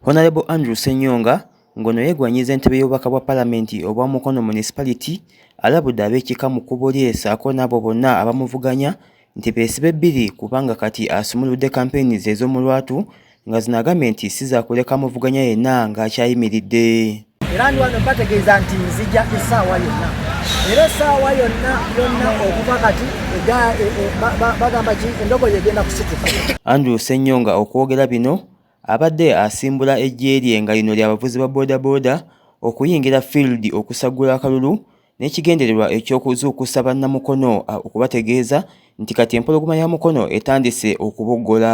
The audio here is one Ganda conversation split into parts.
Honorable Andrew Ssenyonga ngono yegwanyiza entebe y'obubaka bwa palamenti obwa Mukono Municipality alabudde ab'ekika mu kubo lye saako n'abo bonna abamuvuganya nti beesibe bbiri kubanga kati asumuludde kampeyini ze ez'omu lwatu nga zino agambye nti si zakuleka muvuganya yenna ng'akyayimiridde era ndi wano bategeeza nti nzija essaawa yonna era essaawa yonna yonna okuva kati e, e, bagamba ki endogoyi egenda kusituka andrew senyonga okwogera bino Abadde asimbula eggye lye nga lino lya bavuzi ba bodaboda okuyingira field okusaggula akalulu n'ekigendererwa eky'okuzuukusa bannaMukono okubategeeza nti kati empologoma ya Mukono etandise okuboggola.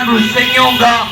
Andrew Senyonga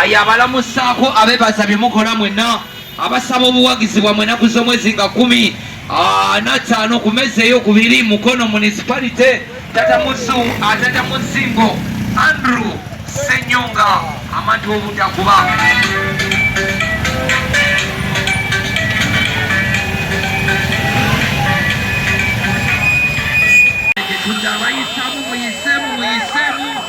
ayabalamusaako abebaza bye mukola mwenna Abasaba obuwagizi bwa mwenaku z'omwezi nga kumi ah, nataano ku mezi eyokubiri Mukono municipality tata muzu atata ah, muzingo Andrew Senyonga amatu obutakuba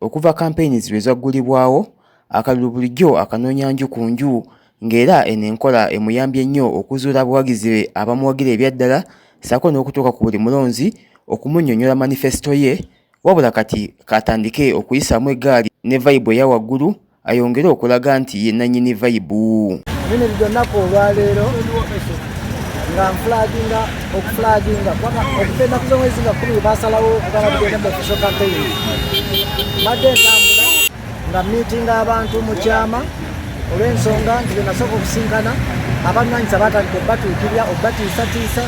Okuva Campaigns lwe zaggulibwawo, akalulu bulijjo akanoonya nju ku nju ng'era eno enkola emuyambye nnyo okuzuula abawagizi be abamuwagira ebya ddala ssaako n'okutuuka ku buli mulonzi okumunnyonnyola manifesito ye wabula kati k'atandike okuyisaamu eggaali ne vayibu eya waggulu ayongere okulaga nti ye nanyini vayibu bino byonnaku olwaleero nga nfulaginga okufulaginga okugenda ku mwezi nga kumi basalawo okugala kugenda mu official campaign mbadde ntambula nga miitinga abantu mu kyama olw'ensonga nti byenasooka okusinkana abannwanyisa batandika okubatuukirira okubatiisatiisa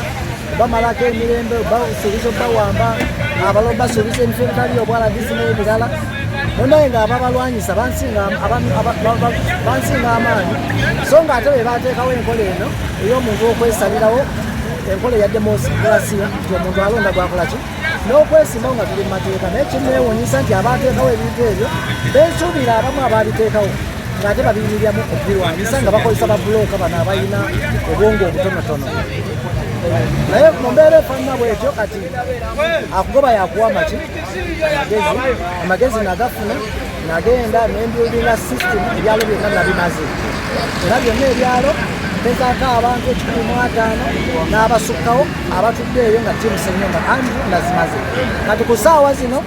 bamalako emirembe basuubiza okubawamba abalo basuubiza emifo ebitali obwalagisi n'ebirala munaye nga ababalwanyisa bansinga amaanyi so nga ate bebateekawo enkola eno ey'omuntu okwesalirawo enkola eya demosikulasia nti omuntu alonda gwakolaki n'okwesimbawo nga tuli mu mateeka naye kimnewunyisa nti abateekawo ebintu ebyo bensuubira abamu abaabiteekawo ng'ate babiyimiryamu okubirwanyisa nga bakozesa babuloka bano abalina obwongo obutonotono naye mu mbeera efaanana bwetyo kati akugoba yakuwa maki amagezi nagafuna nagenda nembyulinga system ebyalo byonna nabimaze era byonna ebyalo mpezako abantu ekikumi mu ataano n'abasukkawo abatudde eyo nga tiimu senyumba anti nazimaze kati ku saawa zino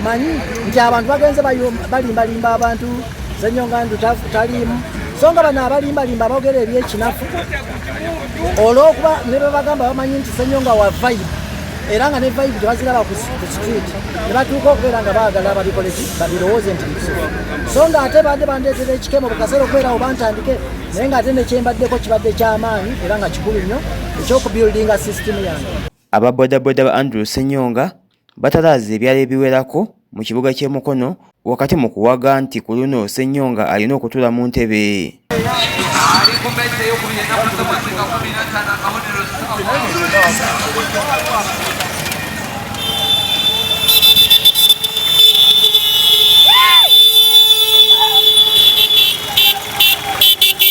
manyi nti abantu bagenze balimbalimba abantu zenyonga nti taliimu so nga bano abalimbalimba abogera ebyekinafu olwokuba ne bebagamba bamanyi nti senyonga wa vibe era nga ne vibe tebaziraba ku street ne batuuka okubeera nga baagala babikoleki babirowooze nti bisufu so nga ate badde bandeetera ekikemo bukaseera okubeerawo bantandike naye nga ate nekyembaddeko kibadde kyamaanyi era nga kikulu nnyo ekyokubuildinga system yange aba bodaboda ba andrew senyonga batalaaza ebyalo ebiwerako mu kibuga ky'e Mukono wakati mu kuwaga nti ku luno Ssenyonga alina okutuula mu ntebe.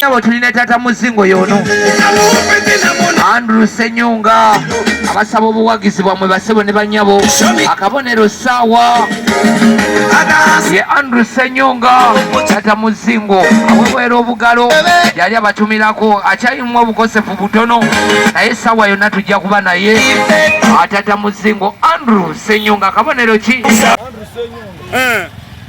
Nabo tulina tata muzingo yono Andrew Senyunga abasaba obuwagizi bwamwe basebo ne banyabo akabonero sawa ye Andrew Senyunga tata muzingo awewera obugalo yali abatumirako akyayimwa obukosefu butono naye sawa yona tujja kuba naye atata muzingo Andrew Senyunga akabonero ki Andrew Senyunga eh.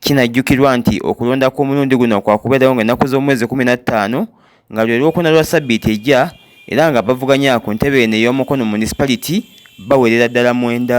Kinajjukirwa nti okulonda kw'omulundi guno kwakubeerawo nga ennaku z'omwezi kumi na ttaano nga lwe lwokuna lwa sabbiiti ejja era nga abavuganya ku ntebe eno ey'omukono municipality bawerera ddala mwenda.